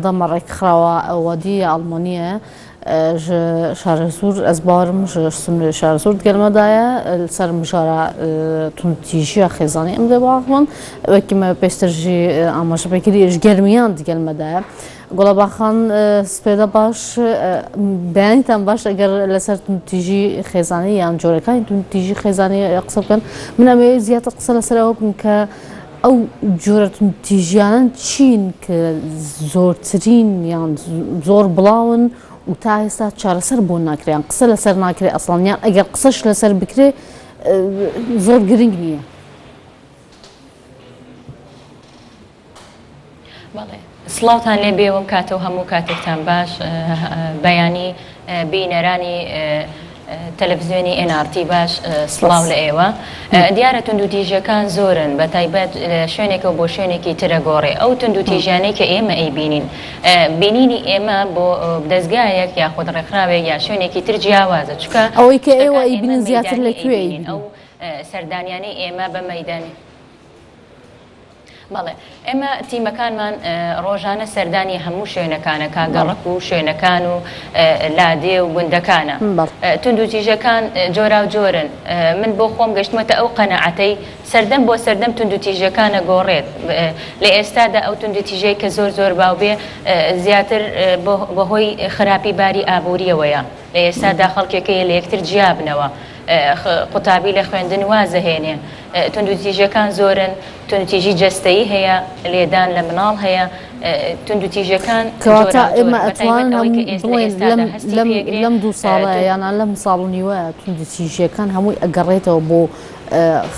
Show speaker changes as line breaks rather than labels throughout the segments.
دەمە ڕێکخراوە ئەوەدی ئەڵمانیە ژە شارەزور ئەز باوەرم ژە سنورێ شارەزور دگەلمە دایە لەسەر مژارە توندتیژیە خێزانی ئەم دەباخمن وەکیمە پێشتر ژی ئاماژە پێکردی ژ گەرمیان دگەلمە دایە گوڵەباخان سپێدە باش بەیانیتان باش ئەگەر لەسەر توندتیژی خێزانی یان جۆرەکانی توندتیژی خێزانی قسە بکەن من ئەمەوێت زیاتر قسە لەسەر ئەوە بکەم کە ئەو جۆرە توندتیژیانەن چین کە زۆرترین یان زۆر بڵاون و تا ئێستا چارەسەر بۆ ناکرێ یان قسە لەسەر ناکرێ ئەسڵەن یان ئەگەر قسەش لەسەر بکرێ زۆر گرنگ نییە.
بەڵێ سڵاوتان لێ بێ وەم کاتەو هەموو کاتێکتان باش بەیانی بینەرانی تەلەفزیۆنی ئێن ئاڕتی باش سڵاو لە ئێوە دیارە توندو تیژەکان زۆرن بە تایبەت شوێنێکەوە بۆ شوێنێکی ترە گۆڕێ ئەو توندو تیژانەی کە ئێمە ئەی بینین بینینی ئێمە بۆ دەستگایەک یاخود ڕێکخراوێک یا شوێنێکی تر جیاوازە چکە ئەوەی کە ئێوە ئەی
بینین زیاتر لەکوێ ئەو
سەردانیانەی ئێمە بە مەدانی بەڵێ ئێمە تیمەکانمان ڕۆژانە سەردانی هەموو شوێنەکانە کا گەڕەک و شوێنەکان و لادێ و گوندەکانە توند و تیژەکان جۆراو جۆرن من بۆ خۆم گەشتمەتە ئەو قەناعەتەی سەردەم بۆ سەردەم توند و تیژەکان ئەگۆڕێت لە ئێستادا ئەو توند و تیژەی کە زۆر زۆر باو بێ زیاتر بەهۆی خراپی باری ئابوریەوەیە لە ئێستادا خەڵکێکەیە لە یەکتر جیابنەوە قوتابی لە خوێندن واز دەهێنێ. توندوتیژییەکان زۆرن، توندوتیژی جەستەیی هەیە، لێدان لە مناڵ هەیە، توندوتیژییەکان جۆراوجۆرن،
بە تایبەت ئەوەی کە ئێس لە ئێستادا هەستی پێ ئەگرێ. کەواتە ئێمە ئەتوانین بڵێین لەم دوو ساڵە یانە لەم ساڵ و نیوە توندوتیژییەکان هەمووی ئەگەڕێتەوە بۆ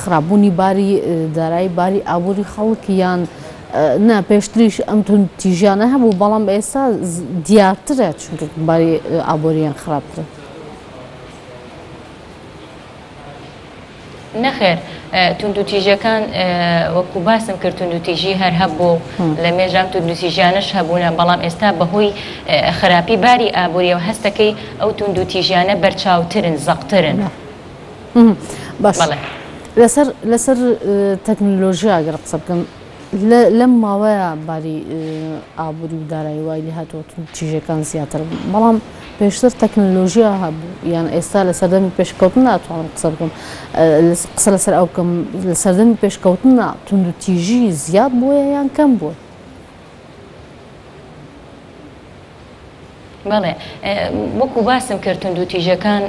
خراپبوونی باری دارایی، باری ئابووری خەڵک یان نا، پێشتریش ئەم توندوتیژییانە هەبوو، بەڵام ئێستا دیارترە چونکە باری ئابوورییان خراپترە.
نەخێر توندوتیژەکان وەکو باسم کرد توندوتیژی هەر هەبوو لە مێژام توندوتیژیانش هەبوونە بەڵام ئێستا بەهۆی خراپی باری ئابوووریەوە هەستەکەی ئەو توندوتیژیانە بەرچاوترن زەقترن
بەڵێ لەسەر لەسەر تەکنلۆژیاگەر قسە بکەم لەم ماوەیە باری ئابووری و دارایی وای لێ هاتووە توندوتیژیەکان زیاتر بن، بەڵام پێشتر تەکنەلۆژیا هەبوو، یان ئێستا لە سەردەمی پێشکەوتن ناتوانم قسە بکەم قسە لەسەر ئەو بکەم لە سەردەمی پێشکەوتندا توندوتیژی زیاد بووە یان کەم بووە؟
بەڵێ وەکو باسم کرد توندو تیژەکان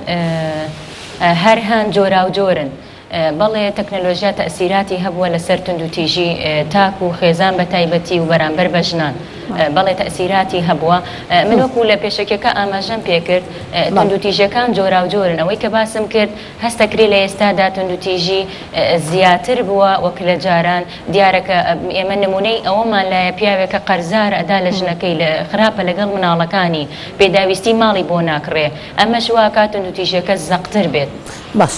هەر هەن جۆراو جۆرن بەڵێ تەکنەلۆژیا تەسیراتی هەبووە لەسەر توندو تیژی تاک و خێزان بە تایبەتی و بەرامبەر بە ژنان بەڵێ تەسیراتی هەبووە من وەکو لە پێشەکەکە ئاماژەم پێکرد توندو تیژەکان جۆراو جۆرن ئەوەی کە باسم کرد هەست دەکرێت لە ئێستادا توندوتیژی زیاتر بووە وەک لە جاران، دیارە کە ئێمە نموونەی ئەوەمان لایە پیاوێک کە قەرزارە ئەدا لە ژنەکەی، خراپە لەگەڵ مناڵەکانی، پێداویستی ماڵی بۆ ناکڕێ، ئەمەش واکات توندوتیژیەکە زەقتر بێت. باش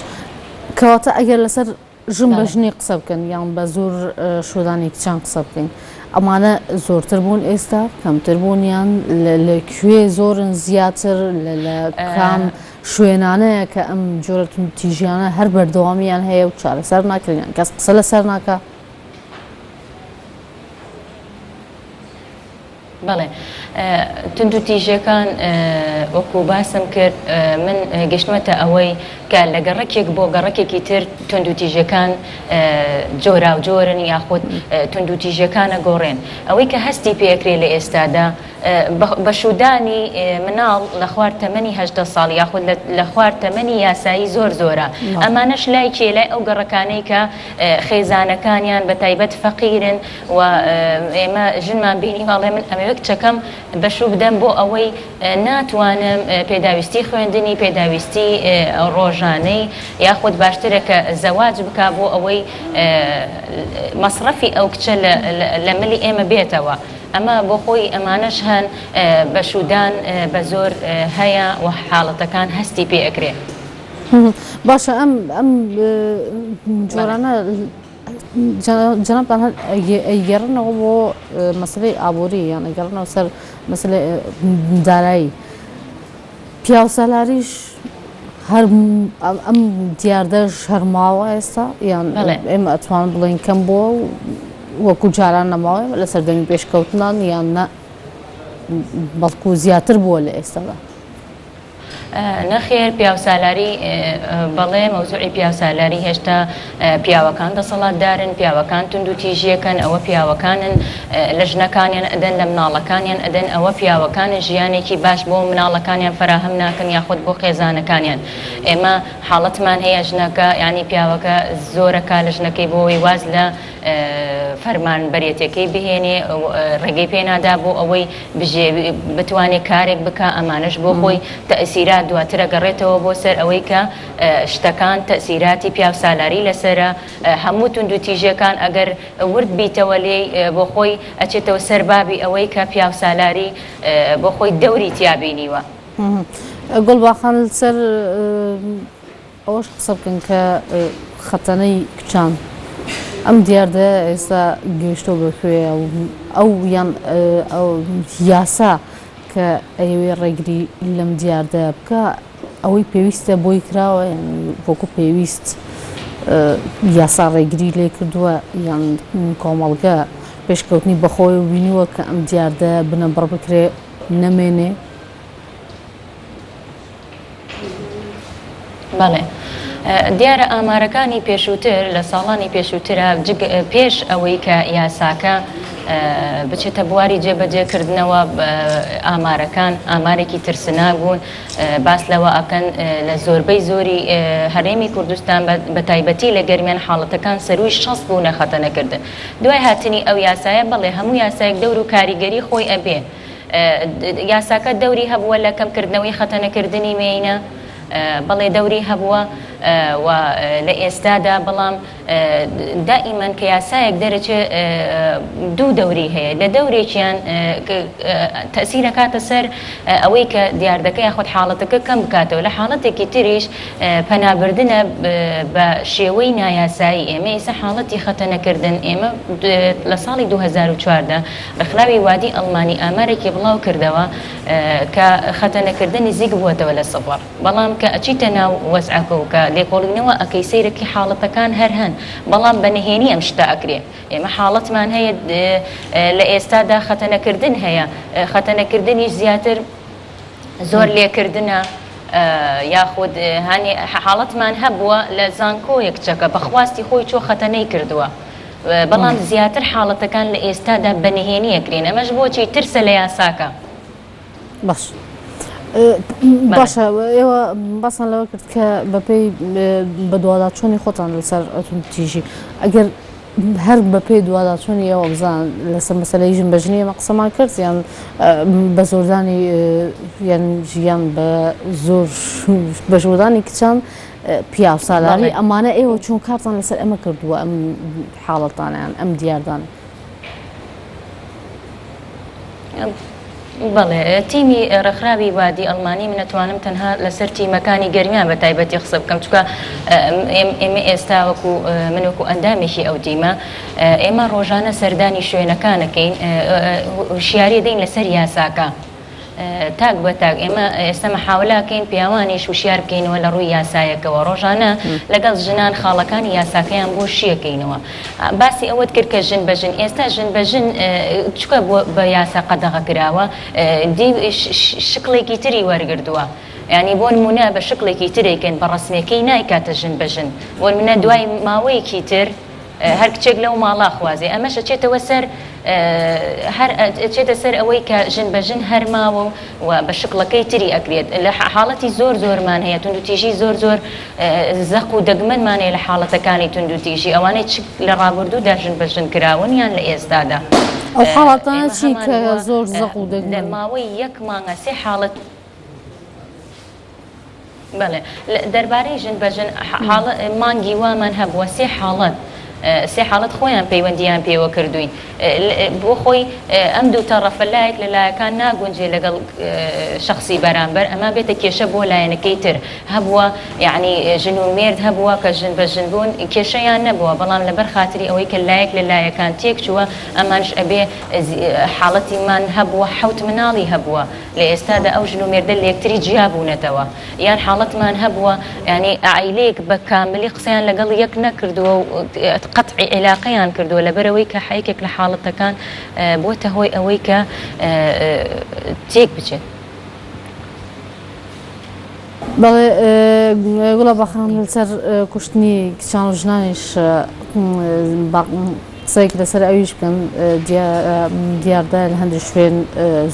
کەواتە ئەگەر لەسەر ژن بە ژنی قسە بکەن یان بە زۆر شۆدانی کچان قسە بکەین ئەمانە زۆرتر بوون ئێستا کەمتر بوونیان لە کوێ زۆرن زیاتر لە کام شوێنانەیە کە ئەم جۆرەتون تیژیانە هەر بەردەوامیان هەیە و چارەسەر ناکرێن کەس قسە لەسەر ناکە
بەڵێ توندوتیژیەکان وەکو باسم کرد من گەشتمەتە ئەوەی کە لە گەڕەکێک بۆ گەڕەکێکی تر توندوتیژیەکان جۆراو جۆرن یاخود توندوتیژیەکانە گۆڕێن ئەوەی کە هەستی پێکرێ لە ئێستادا بە شودانی مناڵ لە خوار تەمەنی هەژدە ساڵ یاخود لە خوار تەمەنی یاسایی زۆر زۆرە ئەمانەش لای کێ لای ئەو گەڕەکانەی کە خێزانەکانیان بە تایبەت فەقیرن و ئێمە ژنمان بینیوە ئەڵێ من ئەمەوێ کچەکەم بەشوو بدەم بۆ ئەوەی ناتوانم پێداویستی خوێندنی پێداویستی ڕۆژانەی یاخود باشترە کە زەواج بکا بۆ ئەوەی مەسڕەفی ئەو کچە لە ملی ئێمە بێتەوە ئەمە بۆ خۆی ئەمانەش هەن بەشوودان بە زۆر هەیە و حاڵەتەکان هەستی پێ ئەکرێ.
باشە ئەم ئەم جۆرانە. جەنابتان هەر ئەیگەڕنەوە بۆ مەسەلەی ئابووری یان ئەگەڕنەوە سەر مەسەلەی دارایی پیاوسالاریش هەر ئەم دیاردەش هەرماوە ئێستا یان ئێمە ئەتوان بڵێن کەم بۆ وەکو جاران نەماوە لە سەردەمی پێشکەوتنان یان نە بەڵکو زیاتر بووە لە ئێستادا نەخێر
پیاوسالاری بەڵێ مەوزوعی پیاوسالاری هێشتا پیاوەکان دەسەڵاتدارن پیاوەکان تونند و تیژیەکەن ئەوە پیاوەکانن لە ژنەکانیان ئەدەن لە مناڵەکانیان ئەدەن ئەوە پیاوەکانن ژیانێکی باش بۆ مناڵەکانیان فراهەم ناکەن یاخود بۆ خێزانەکانیان ئێمە حاڵەتمان هەیە ژنەکە ینی پیاوەکە زۆرەکە لە ژنەکەی بۆی واز لە فەرمانبەرێتیەکەی بهێنێ ڕێگەی پێ نادا بۆ ئەوەی بتوانێ کارێک بکا ئەمانەش بۆ خۆی تەئسیرات دواترە گەڕێتەوە بۆ سەر ئەوەی کە شتەکان تەئسیراتی پیاو سالاری لەسەرە هەموو توندو تیژێکان ئەگەر ورد بیتەوە لێی بۆ خۆی ئەچێتەوە سەر بابی ئەوەی کە پیاو سالاری بۆ خۆی دەوری تیا بینیوە.
گوڵباخان لەسەر ئەوەش قسە بکەن کە خەتەنەی کچان ئەم دیاردەیە ئێستا گەیشتوە بە کوێ و ئەو یان یاسا کە ئەیەوێ ڕێگری لەم دیاردەیە بکا ئەوەی پێویستە بۆی کراوە یان وەکو پێویست یاسا ڕێگری لێ کردوە یان کۆمەڵگە پێشکەوتنی بەخۆی و بینیوە کە ئەم دیاردەیە بنەبڕ بکرێ نەمێنێ.
بەڵێ دیارە ئامارەکانی پێشووتر لە ساڵانی پێشووترە پێش ئەوەی کە یاساکە بچێتە بواری جێبەجێکردنەوە ئامارەکان ئامارێکی ترسناگوون باس لەوە ئەکەن لە زۆربەی زۆری هەرێمی کوردستان بە تایبەتی لە گەرمیان حاڵەتەکان سەروی شەست بوو نەخەتەنەکردن دوای هاتنی ئەو یاسایە بەڵێ هەموو یاسایەک دەور و کاریگەری خۆی ئەبێ یاساکە دەوری هەبووە لە کەمکردنەوەی خەتەنەکردنی مێینە، بەڵێ دەوری هەبووە و لە ئێستادا، بەڵام دائیمەن کە یاسایەک دەرەچێ دوو دەوری هەیە، لە دەورێکیان تەئسیر ئەکاتە سەر ئەوەی کە دیاردەکە یاخود حاڵەتەکە کەم بکاتەوە، لە حاڵەتێکی تریش پەنابردنە بە شێوەی نایاسایی، ئێمە ئیسە حاڵەتی خەتەنەکردن ئێمە لە ساڵی دوو هەزار و چواردە، ڕێکخراوی وادی ئەڵمانی ئامارێکی بڵاو کردەوە کە خەتەنەکردن نزیک بووەتەوە لە سفر بەڵام کە ئەچیتە ناو وەزعەکە و کە لێکۆڵینەوە ئەکەی سەیرەکی حاڵەتەکان هەر هەن بەڵام بە نهێنی ئەم شتە ئەکرێ ئێمە حاڵەتمان هەیە لە ئێستادا خەتەنەکردن هەیە خەتەنەکردنیش زیاتر زۆر لێکردنە یاخود هانی حاڵەتمان هەبووە لە زانکۆیە کچەکە بە خواستی خۆی چووە خەتەنەی کردووە. بەڵام زیاتر
حاڵەتەکان لە ئێستادا بە نهێنی ئەکرێن، ئەمەش بۆچی؟ ترسە لە یاساکە. باش باشە ئێوە باسان لەوە کرد کە بەپێی بەدواداچوونی خۆتان لەسەر توندتیژی ئەگەر هەر بەپێی دوواداچوونی ئێوە بزان لەسەر مەسلەی ژن بەژنی ئەمە قسەمان کرد یان بە زۆردانی یان ژیان بە زۆر بە ژوردانی کچان پیاوسالاری ئەمانە ئێوە چۆن کارتان لەسەر ئەمە کردووە ئەم حاڵەتانیان ئەم دیاردان
بەڵێ تیمی ڕێکخراوی وادی ئەڵمانی من نەتوانم تەنها لەسەر تیمەکانی گەرمیان بە تایبەتی قسە بکەم چکە ئێمە ئێستا وەکو من وەکو ئەندامێکی ئەو تیمە ئێمە ڕۆژانە سەردانی شوێنەکانەکەین هوشیاری دەین لەسەر یاساکە. تاک بە تاک ئێمە ئێستا مەحاولەکەین پیاوانیش وشیار بکەینەوە لە ڕووی یاسایەکەوە ڕۆژانە لەگەڵ ژنان خاڵەکانی یاساکەیان بۆ شیەکەینەوە باسی ئەوەت کرد کە ژن بە ژن ئێستا ژن بە ژن چکە بە یاسا قەدەغە کراوە دی شکڵێکی تری وەرگردووە. ینی بۆن مونە بە شکڵێکی ترێکن بە ڕسمەکەی نایکاتە ژن بە ژن بۆن منە دوای ماوەیەکی تر هەر کچێک لەو ماڵە ئەخوازێ ئەمەش ئەچێتەوە سەر هەر ئەچێتە سەر ئەوەی کە ژن بە ژن هەر ماوە و بە شکڵەکەی تری ئەکرێت لە حاڵەتی زۆر زۆرمان هەیە توندوتیژی زۆر زۆر زەق و دەگمەنمان هەیە لە حاڵەتەکانی توندوتیژی ئەوانەی چ لە ڕابردوودا ژن بە ژن کراون یان لە ئێستادا ئەو حاڵەتانە چی کە زۆر زەق و
دەگمەن؟ لە ماوەی یەک مانگە
سێ حاڵەت بەڵێ دەربارەی ژن بە ژن حاڵ مانگی وامان هەبووە سێ حاڵەت سێ حاڵەت خۆیان پەیوەندیان پێوە کردوین بۆ خۆی ئەم دوو تەڕەفە لایەک لە لایەکان ناگونجێ لەگەڵ شخصی بەرامبەر ئەمە بێتە کێشە بۆ لایەنەکەی تر هەبووە یعنی ژن و مێرد هەبووە کە ژن بە ژن بوون کێشەیان نەبووە بەڵام لەبەر خاتری ئەوەی کە لایەک لە لایەکان تێک چووە ئەمانش ئەبێ حاڵەتی من هەبووە حوت مناڵی هەبووە لە ئێستادا ئەو ژن و مێردە لێکتری جیا بوونەتەوە یان حاڵەتمان هەبووە یانی عایلەیەک بە کاملی قسەیان لەگەڵ یەک نەکردووە و قەتعی عیلاقەیان کردووە لەبەرەوەی کە حەیکێک لە حاڵەتەکان بۆتە هۆی ئەوەی کە تێک بچێت. بەڵێ گوڵە
بەخان لەسەر کوشتنی کچان و ژنانیش قسەیەک لەسەر ئەویش بکەم، دیاردە لە هەندێک شوێن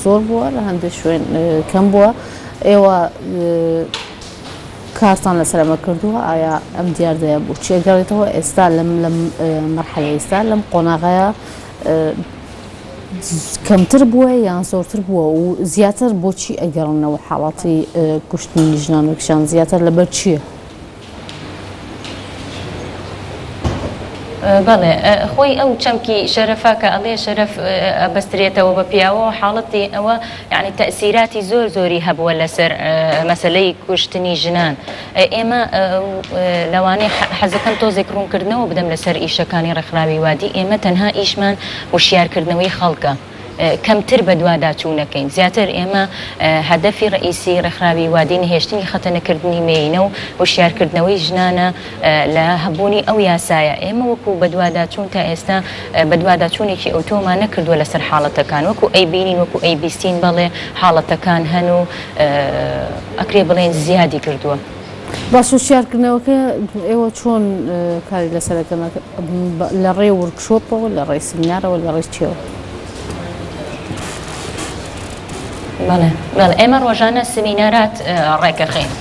زۆر بووە، لە هەندێک شوێن کەم بووە. ئێوە کارتان لەسەر ئەمە کردووە؟ ئایا ئەم دیاردەیە بۆچی ئەگەڕێتەوە ئێستا لەم لەم مەرحەلە ئێستا لەم قۆناغەیە کەمتر بووە یان زۆرتر بووە و زیاتر بۆچی ئەگەڕنەوە حاڵاتی کوشتنی ژنان و کچان زیاتر لەبەر چییە؟
بەڵێ خۆی ئەو چەمکی شەرەفە کە ئەڵێ شەرەف ئەبەسترێتەوە بە پیاوەوە حاڵەتی ئەوە یعنی تەئسیراتی زۆر زۆری هەبووە لەسەر مەسەلەی کوشتنی ژنان ئێمە لەوانەیە حەزەکەم تۆزێک ڕوونکردنەوە بدەم لەسەر ئیشەکانی ڕێکخراوی وادی ئێمە تەنها ئیشمان وشیارکردنەوەی خەڵکە کەمتر بەدواداچوونەکەین، زیاتر ئێمە هەدەفی ڕەئیسی ڕێکخراوی وادی نەهێشتنی خەتەنەکردنی مێینە و هۆشیارکردنەوەی ژنانە لە هەبوونی ئەو یاسایە، ئێمە وەکو بەدواداچوون تا ئێستا بەدواداچوونێکی ئەوتۆمان نەکردووە لەسەر حاڵەتەکان، وەکو ئەیبینین وەکو ئەیبیستین بەڵێ حاڵەتەکان هەن و ئەکرێ بڵێین زیادی کردووە. باشە
هوشیارکردنەوەکە ئێوە چۆن کاری لەسەر ئەکەن لە ڕێی ورکشۆپەوە لە ڕێی سمینارەوە لە ڕێی چیەوە؟
بەڵێ ئێمە ڕۆژانە سمینارات ڕێکەخەین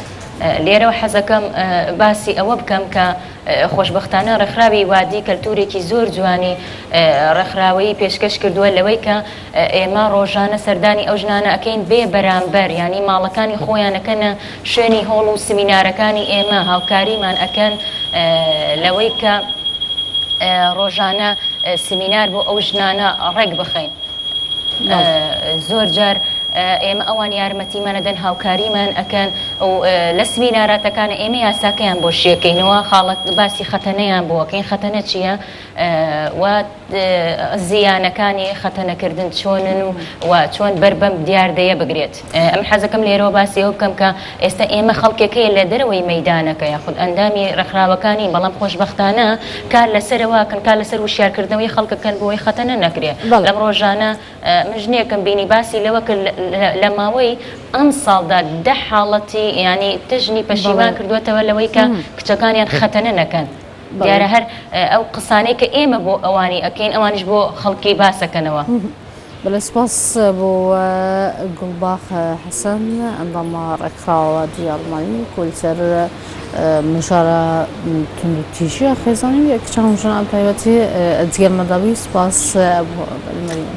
لێرەوە حەزەکەم باسی ئەوە بکەم کە خۆشبەختانە ڕێکخراوی وادی کەلتورێکی زۆر جوانی ڕێکخراوەیی پێشکەش کردووە لەوەی کە ئێمە ڕۆژانە سەردانی ئەو ژنانە ئەکەین بێ بەرامبەر یانی ماڵەکانی خۆیان ئەکەنە شوێنی هۆڵ و سمینارەکانی ئێمە هاوکاریمان ئەکەن لەوەی کە ڕۆژانە سمینار بۆ ئەو ژنانە ڕێک بخەین زۆر جار ئێمە ئەوان یارمەتیمانە دەن هاوکاریمان ئەکەن و لە سمیناراتەکانە ئێمە یاساکەیان بۆ شیەکەینەوە خاڵک باسی خەتەنەیان بۆکەین خەتەنە چییە؟ زیانەکانی خەتەنەکردن چۆنن و و چۆن بەر بەم دیاردەیە بگرێت؟ ئەمن حەزەکەم لێرەوە باسی ئەوە بکەم کە ئێستا ئێمە خەڵکێک هەیە لە دەرەوەی مەیدانەکە یاخود ئەندامی ڕێکخراوەکان نین، بەڵام خۆشبەختانە کار لەسەرەوە ئەکەن، کار لەسەر وشیارکردنەوەی خەڵک ئەکەن بۆ ئەوەی خەتەنە نەکرێت. بەڵێ. لەم ڕۆژانە من ژنێکم بینی باسی لەوە کرد لە ماوەی ئەمساڵدا دە حاڵەتی یانی دە ژنی پەشیمان کردووەتەوە لەوەی کە کچەکانیان خەتەنە نەکەن. دیارە هەر ئەو قسانەی کە ئێمە بۆ ئەوانی ئەکەین ئەوانش بۆ خەڵکی
باسەکەنەوە. بەڵێ سپاس بۆ گوڵباخ حەسەن ئەندامە ڕێکخراوە دی ئەڵمانی کۆلسەر مژارە توندوتیژە خێزانی کچان ژنان تایبەتی جگەرمەداوی سپاس بۆ بەلمەریان.